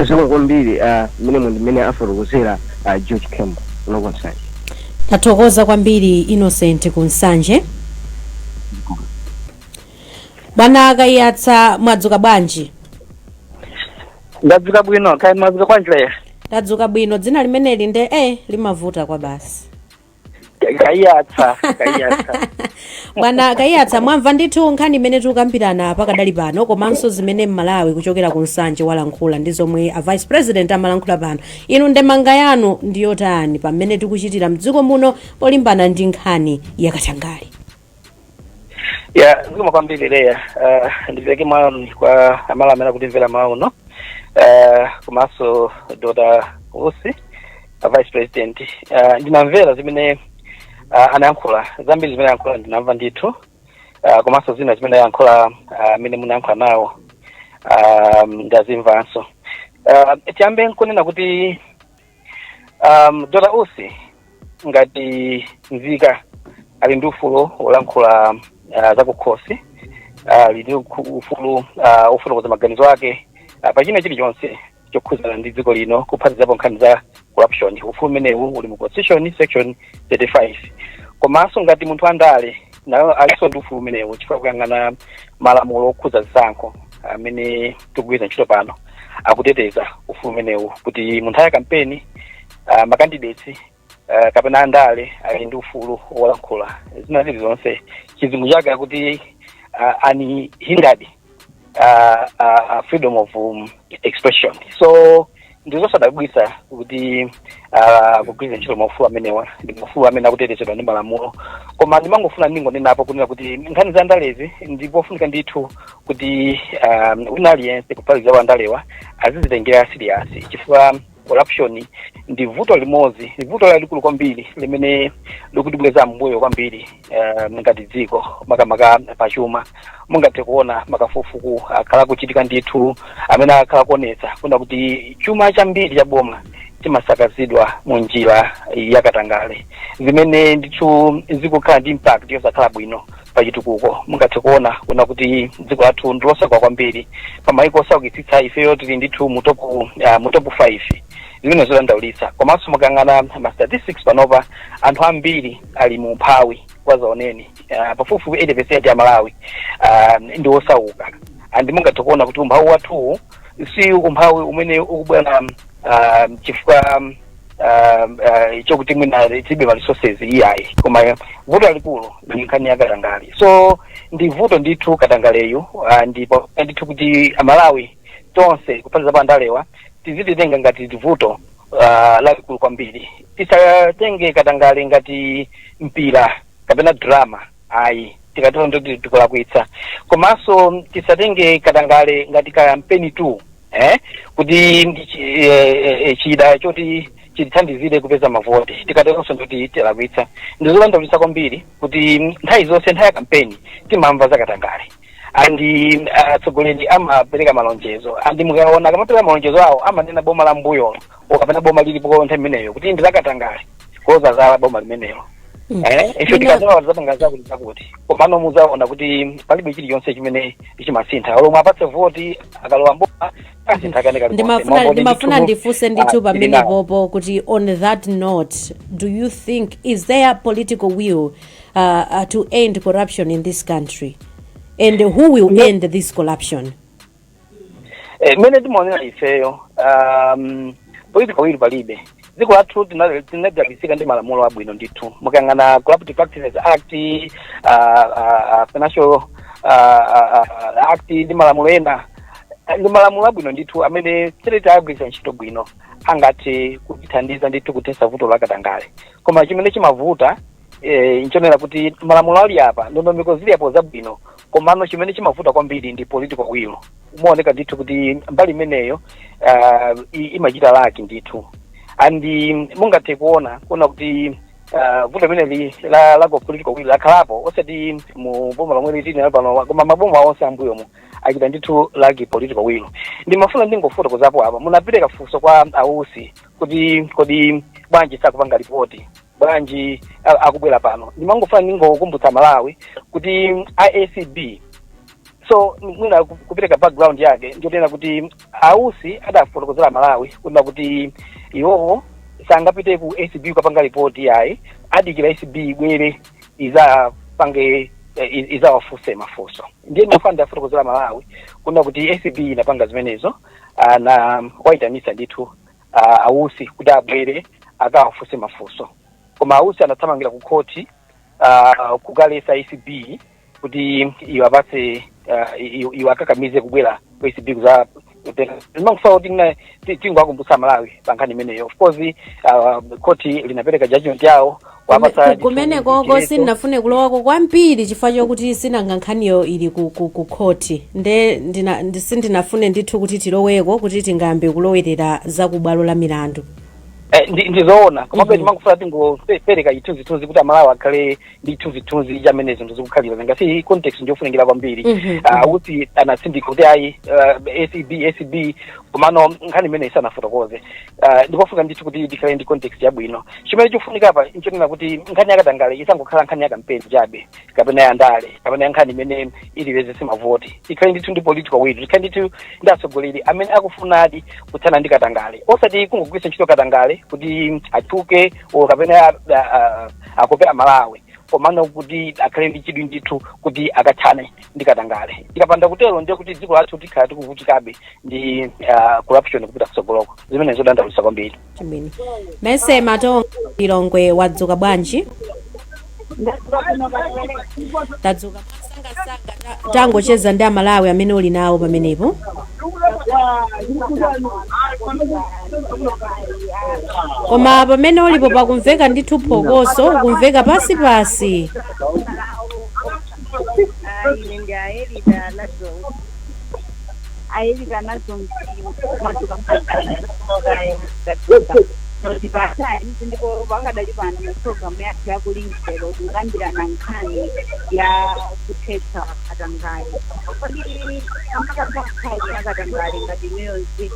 zikomo kwambiri ah, mmene mu ndimene afotokozera ah, george kembo kuno ku nsanje tathokoza kwambiri innocent kumchedwa bwana a kaiyatsa mwadzuka bwanji ndadzuka bwino kaya mwadzuka bwanji leya tadzuka bwino dzina limeneli nde e limavuta kwa basi kaiyatsa kaiyatsa bwana kaiyatsa mwamva ndithu nkhani imene tikukambirana pakadali pano komanso zimene mmalawi kuchokera ku nsanje walankhula ndi zomwe a vice president amalankhula pano inu ndemanga yanu ndiyotani pa mmene tikuchitira mdziko muno polimbana ndi nkhani yakatangale ya zikomo kwambiri leya uh, ndipeleke moni kwa amalawi amene akutimvera mmawa uno uh, komanso dokotala usi a vice president uh, ndinamvera zimene uh, anayankhula zambiri zimene ayankhula ndinamva ndithu uh, komanso zina zimene ayankhula amene uh, munayankhula nawo uh, ndazimvanso uh, tiyambe nkunena kuti um, dr usi ngati nzika ali ndi ufulu wolankhula uh, zakukhosi ali ndi ukhu- ufulu uh, ofotokoza maganizo ake uh, pa china chilichonse chokhudzana ndi dziko lino kuphatikizapo nkhani za corruption ufulu umenewu uli mu constitution section 35 komanso ngati munthu andale nayo alinso ndi ufulu umenewu chifukwa kuyang'ana malamulo okhudza zisankho amene tikugwiritsa ntchito pano akuteteza ufulu umenewu kuti mu nthawi ya kampeni uh, makandidates uh, kapena andale ali ndi ufulu wolankhula zina zilizonse chizungu chake akuti uh, unhindered uh, uh, freedom of um, expression so ndi zosadabwitsa kuti ah, kugwiritsa ntchito maufulu amenewa ndi maufulu amene akutetezedwa ndi malamulo koma ndimangofuna ndingonenapo kunena kuti nkhani za ndalezi ndi pofunika ndithu kuti ah, wina aliyense kuphatikiza wa ndalewa azizitengera siriyasi chifukwa corruption ndi vuto limodzi ndi vuto lalikulu kwambiri limene likutibweza m'mbuyo kwambiri eh, ngati dziko makamaka pachuma mungathe kuona makafukufuku akhala akuchitika ndithu amene akhala akuonetsa kuna kuti chuma chambiri cha boma chimasakazidwa mu njira yakatangale zimene ndithu zikukhala ndi impact yosakhala bwino pa chitukuko mungathe kuona kuna kuti dziko lathu ndi losauka kwambiri pa maiko osaukitsitsa ifeyo tili ndithu mu top uh, mu top 5 zimene ndi zodandaulitsa komanso mukayang'ana ma statistics panopa anthu ambiri ali mu umphawi wazaoneni uh, pafupifupi 80 percent ya amalawi uh, ndi osauka and mungathe kuona kuti umphawi wathuwu si umphawi umene ukubwera uh, chifukwa um, uh, chokuti mwina tilibe ma resources iyayi koma vuto lalikulu ndi nkhani ya katangale so ndi vuto ndithu katangaleyu uh, ndipo ndithu kuti amalawi tonse kuphatikizapo andalewa tizizitenga ngati vuto uh, lalikulu kwambiri tisatenge katangale ngati mpira kapena drama ayi tikatero ndoti tikulakwitsa komanso tisatenge katangale ngati kampeni tool eh? kuti ndi chi- eh, eh, eh, chida choti chitithandizire kupeza mavoti tikateronso ndoti tilakwitsa ndi zodandaulitsa kwambiri kuti nthawi zonse nthawi ya kampeni timamva za katangale andi atsogoleri amapereka malonjezo andi mukaona akamapereka malonjezo awo amanena boma la mbuyolo kapena boma lilipo nthawi imeneyo kuti ndi lakatangale kudzadzala boma limenelo Mm. eh ife Mina- tikazawina tizapanga zakuti zakuti komano muzaona kuti palibe chilichonse chimene chimasintha olo muwapatse voti akalowa mboma asintha kane kali ndimafuna ndimafuna ndifunse ndithu pamenepopo kuti on that note do you think is there political will uh, uh, to end corruption in this country and who will no. end this corruption eh, mmene timaonera ifeyo um, political will palibe dziko lathu tinadalisika ndi malamulo abwino ndithu mukayang'ana corrupt practices act uh, uh, financial uh, uh, act ndi malamulo ena ndi malamulo abwino ndithu amene titati tiagwiritsa ntchito bwino angathe kutithandiza ndithu kuthetsa vuto la katangale koma chimene chimavuta eh, nchonena kuti malamulo ali apa ndondomeko zili apo zabwino komano chimene chimavuta kwambiri ndi political will umaoneka ndithu kuti mbali imeneyo ah, i- imachita laki ndithu and mm, mungathe kuona kuona kuti ah, vuto limeneli la lack of political will lakhalapo osati mu boma lomwe lilipo pano koma maboma onse ambuyomu achita ndithu laki political will ndimafuna ndingofotokozapo apa munapereka funso kwa a Usi kuti kodi bwanji sakupanga ripoti bwanji a- akubwera pano ndimangofuna ndingokumbutsa amalawi kuti acb so mwina ku- kupereka background yake ndiyonena kuti a Usi adafotokozera amalawi kunena kuti iwowo sangapite ku acb kukapanga ripoti yayi adikira acb ibwere izapange eh, i- izawafunse mafunso ndiye ndimafuna ndiafotokozere amalawi kunena kuti acb inapanga zimenezo ah, inawaitanisa ndithu uh, a Usi kuti abwere akawafunse mafunso koma a Usi anathamangira ku khoti uh, kukalesa acb kuti iwapase uh, i- i- iwakakamize kubwera ku acb kuza ndimangofuna kuti mna- ti- tingowakumbutsa amalawi pa nkhani imeneyo of course uh, khoti linapereka judgment yawo Wapatsa Ku- kumene koko sindinafune kulowako kwambiri chifukwa chokuti sinanga nkhaniyo ili ku, ku, ku khoti nde ndina, ndi- sindinafune ndithu kuti tiloweko kuti tingayambe kulowerera za ku bwalo la milandu Eh, ndi- ndizoona komabe Mhm. timangofuna tingopereka chithunzithunzi kuti amalawi akhale ndi chithunzithunzi chamene zinthu zikukhalira nanga si context ndiyofunikira kwambiri Mhm. Ah, Usi anatsindika kuti ayi ah, acb acb komano nkhani imeneyi sanafotokoze Uh, ndikofunika ndithu kuti tikhale ndi context yabwino chimene chikufunika apa nchonena kuti nkhani yakatangale isangokhala nkhani yakampeni chabe kapena ya ndale kapena ya nkhani imene iwapezese mavoti tikhale ndithu ndi political will tikhale ndithu ndi atsogoleri amene akufunadi kuthana ndi katangale osati kungogwiritsa ntchito katangale kuti atchuke o kapena a- a- a- akope amalawi komano kuti akhale ndi chidwi ndithu kuti akathane ndi katangale tikapanda kutero ndiye kuti dziko lathu tikhala tikuvutikabe ndi uh, corruption kupita kutsogoloko zimene zodandaulitsa kwambiri Chimene. Mese Matonga Lilongwe wadzuka bwanji? Tadzuka mwasangasanga ta- tangocheza ndi amalawi amene uli nawo pamenepo. Koma pamene ulipo pakumveka ndithu phokoso, ukumveka pansi pansi. ayi ndi ayelita nazo ayelita nazo matuka notipatali ndipo pakadali pano mu programu yathu ya Kulinji lero tikukambirana nkhani ya kuthetsa katangale kodi angathetse nkhani ya katangale ngati inuyo nzika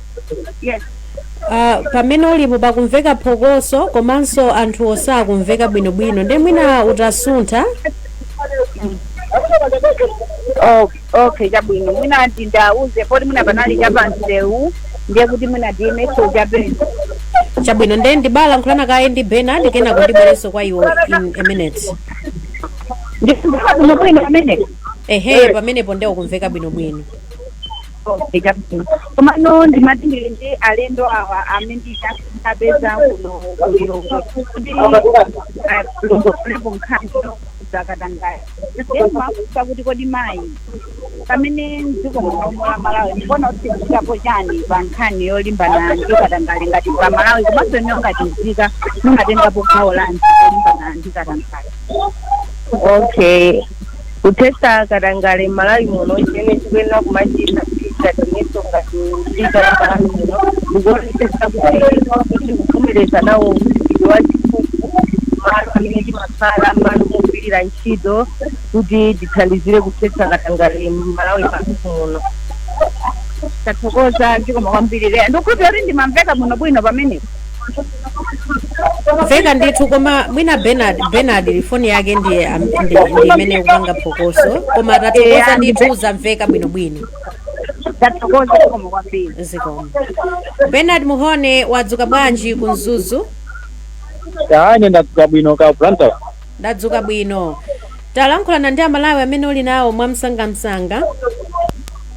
yes Uh, pamene ulipo pakumveka phokoso komanso anthu osakumveka bwinobwino nde mwina utasuntha Oh, okay chabwino mwina ndi ndauze poti mwina panali chapamsewu ndiye kuti mwina ndiyemeso chapeni chabwino nde ndibalankhulana kaye ndi Benard kenako ndibwerenso kwa iwe in a minute ndikuaa bwino bwino pamene ehe pamenepo nde ukumveka bwinobwino Okay, chabwino. Komano ndimati ndili ndi alendo awa amene ndapeza kuno ku Lilongwe kuti alongosolepo nkhani zakatangale. Ndimafunsa kuti kodi mayi pamene mdziko muno mwa Malawi mukuona kuti tikuchitapo chani pa nkhani yolimbana ndi katangale ngati pa Malawi komanso inu ngati mzika mumatengapo gawo lanji kulimbana ndi katangale. Okay, kuthetsa katangale m'malawi muno chimene chikuyenera kumachita kuti cha ineyo ngati mzika ya malawi muno ndikuonetsetsa kuti sitikuvomereza nawo mchitidwe wa ziphuphu malo amene timakhala malo mogwirira ntchito kuti tithandizire kuthetsa katangale m'malawi pathu muno tathokoza zikomo kwambiri Leya ndikukhulupira kuti ndimamveka muno bwino pamenepo mveka ndithu koma mwina Benard Benard foni yake ndiye am- ndi ndi imene ikupanga phokoso koma tathokoza ndithu zamveka bwinobwino tathokoza zikomo kwambiri zikomo Benard Mhone wadzuka bwanji ku Mzuzu ine ndadzuka bwino kaya Blantyre ndadzuka bwino talankhulana ndi amalawi amene uli nawo mwamsangamsanga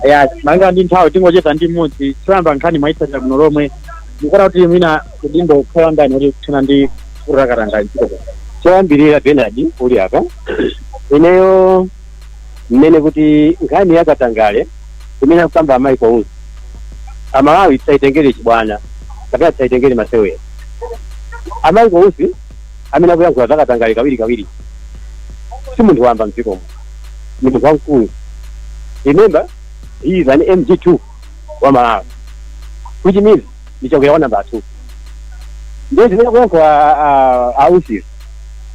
ya malingana ndi nthawi tingocheza ndi mmodzi choyamba nkhani mwaitsatira bwino lomwe mukuona kuti mwina udindo ukhala wa ndani kuti kuthana ndi vuto la katangale mdziko muno choyambirira Bernard uli apa ineyo mmene kuti nkhani ya katangale imene akukamba a Michael Usi amalawi tisayitengere chibwana kapena tisayitengere masewera a Michael Usi amene akuyankhula za katangale kawiri kawiri si munthu wamba mdziko muno ni munthu wamkulu remember he is an mg2 wa Malawi which means ni chakwera wa number 2 ndiye zimene akuyankhula a Usizi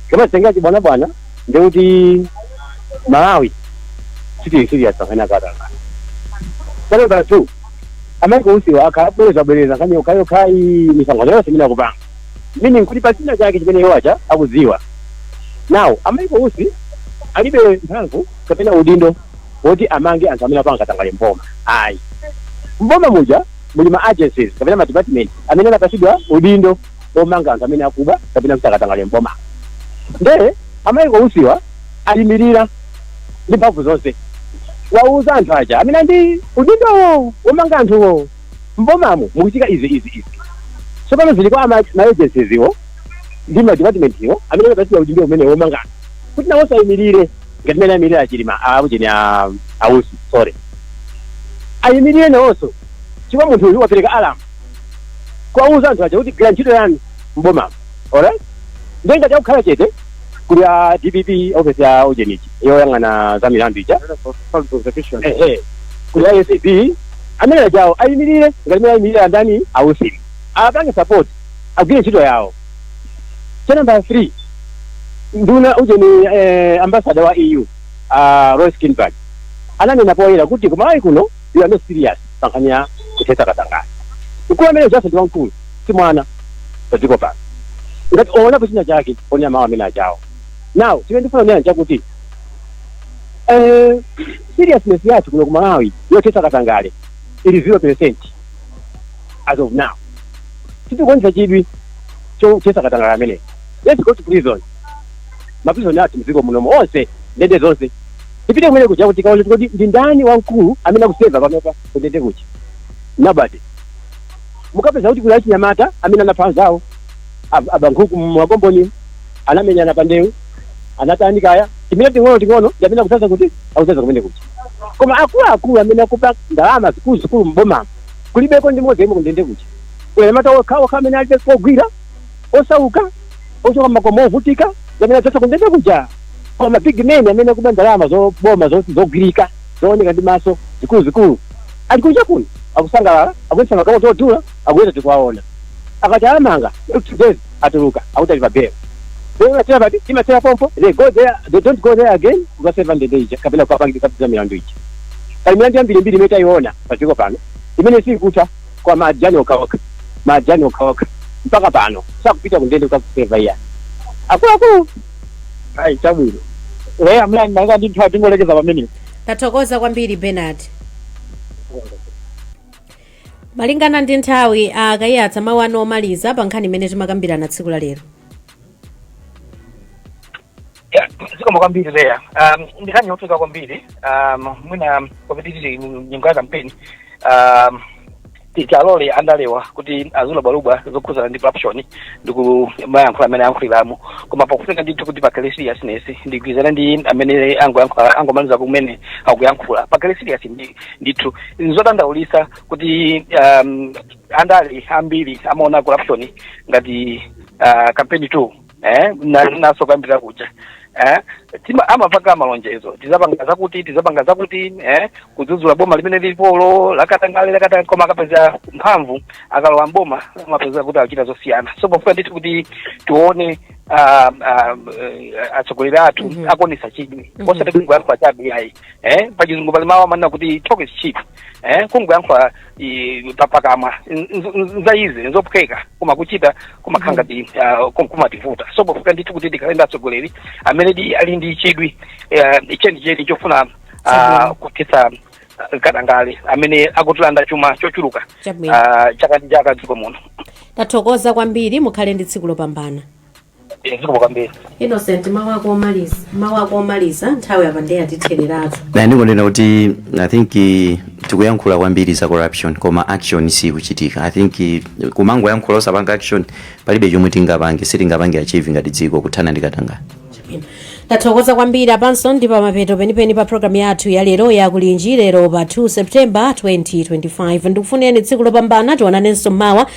tikamazitengera chibwanabwana ndiye kuti Malawi sitili serious pankhani ya katangale number 2 a Michael Usiwa akabwerezabwereza nkhani yokhayokhayi misangano yonse imene akupanga meaning kuti pali china chake chimene iwo aja akudziwa now a Michael Usi alibe mphamvu kapena udindo woti amange anthu amene apanga katangale m'boma ayi. M'boma muja muli ma agencies kapena ma department amene anapatsidwa udindo omanga anthu amene akuba kapena kuchita katangale m'bomamo. Nde a Michael Usiwa ayimilira ndi mphamvu zonse kuwawuza anthu aja amene ali ndi udindowo womanga anthuwo m'bomamu mukuchitika izi, izi, izi. Tsopano zili kwa ma agencies wo ndi ma department wo amene anapatsidwa udindo umenewo womanga anthu kuti nawonso ayimilire. ngati mene ayimirira a Chilima akujeni a Usi sorry ayimirire nawonso chifukwa munthu uyu wapereka alamu kuwauza anthu aja kuti gwira ntchito yanu mbomamo alright ndiye ngati akukhala chete kuli a dpp ofesi ya ujenichi yoyang'ana za milandu ija ehe kuli acb amene ajawo ayimirire ngati mene ayimirira ndani a Usi apange support agwire ntchito yawo cha nambala 3 nduna ujeni eh, ambasada wa eu uh, Rune Skinnebach ananena poyera kuti kumalawi kuno you are not serious pankhani ya kuthetsa katangale mkulu amene ujaso ndi wamkulu si mwana pa dziko pano ngati owonapo china chake onena mawu amene ajawo now chimene ndifuna kunena chakuti eh, seriousness yathu kuno kumalawi yothetsa katangale ili 0 percent as of now sitikuonetsa chidwi chothetsa katangale ameneyi let's go to prison maprizoni athu mdziko munomo onse ndende zonse tipite kumene kuja kuti tikaone kuti ndi ndani wamkulu amene akuseva panopa kundende kuja nobody mukapeza kuti kuli achinyamata amene anapha anzawo ab- aba nkhuku m'makomboni anamenyana pa ndewu anatani kaya timene ting'ono ting'ono ndi amene akudzaza kuti akudzaza kumene kuja koma akuluakulu amene akuba ndalama zikuluzikulu m'bomamo Kulibeko ndi mmodzi yemwe kundende kuja. Kuli anyamata okhaokha amene alibe kogwira, osauka, ochoka mmakomo ovutika ndi amene adzadza kundende kuja. Koma ma big men amene akuba ndalama za boma zogwirika, zooneka ndi maso, zikuluzikulu, ali kunja kuno akusangalala, akuyendetsa magalimoto odula, akuyenda tikuwaona. Akati awamanga, not two days atuluka akuti ali pa bail. Bail imathera pati? Imathera pompo. They go there, they don't go there again kukaseva ndende ija kapena kukapangitsa za milandu ija. Pali milandu yambirimbiri imene taiona. pa dziko pano imene siikutha kwa ma ajani okhaokha ma ajani okhaokha mpaka pano sakupita ku ndende kukaseva iya akuluakulu ayi chabwino leya malingana ndi nthawi tingolekeza pamenepo tathokoza kwambiri bernard malingana ndi nthawi akayiyatsa mawu anu omaliza pa nkhani imene timakambirana tsiku la lero Yeah, zikomo kwambiri leya um, ndi nkhani yofunika kwambiri um, mwina kwapoti tili nyengo ya kampeni um, tiwalole andalewa kuti azilubwalubwa zokhudzana ndi corruption ndi kumayankhula mmene ayankhuliramo koma pakufunika ndithu kuti pakhale seriousness ndigwirizana ndi amene angoyankhula- angomaliza kumene kuyankhula pakhale serious ndi- ndithu nzodandaulitsa kuti um, andale ambiri amaona corruption ngati uh, kampeni tool eh monga ndinasokambira kuja eh tima amapanga malonjezo tidzapanga zakuti tidzapanga zakuti eh kudzudzula boma limene lilipolo lakatangale lakatangale koma akapeza mphamvu akalowa mboma amapeza kuti achita zosiyana so pofunika ndithu kuti tione ah, ah, eh, atsogoleri athu Mhm. akuonetsa chidwi Mhm. osati kungoyankhula chabe ayi eh pachizungu pali mawu amanena kuti talk is cheap eh kungoyankhula i- pa- pakamwa nz- nz- nza easy nzophweka koma kuchita kumakhala ngati ah, kum- kumativuta so pofunika ndithu kuti tikhale ndi atsogoleri amene di- ali ndi chidwi eh, chenicheni chofuna ah, Chabwino. kuthetsa ah, katangale amene akutilanda chuma chochuluka Chabwino. ah, chaka ndi chaka m'dziko muno tathokoza kwambiri mukhale ndi tsiku lopambana Eh, zikomo kwambiri innocent mawu ako omaliza mawu ako omaliza nthawi apa ndiye yatithereratu ine ndikunena kuti i think eh, tikuyankhula kwambiri za corruption koma action sikuchitika i think eh, kumangoyankhula osapanga action palibe chomwe tingapange sitingapange achieve ngati dziko kuthana ndi katangale tathokoza kwambiri apanso ndi pamapeto penipeni pa programu yathu ya lero ya kulinji lero pa 2 septemba 2025 ndikufunireni tsiku lopambana tionanenso mawa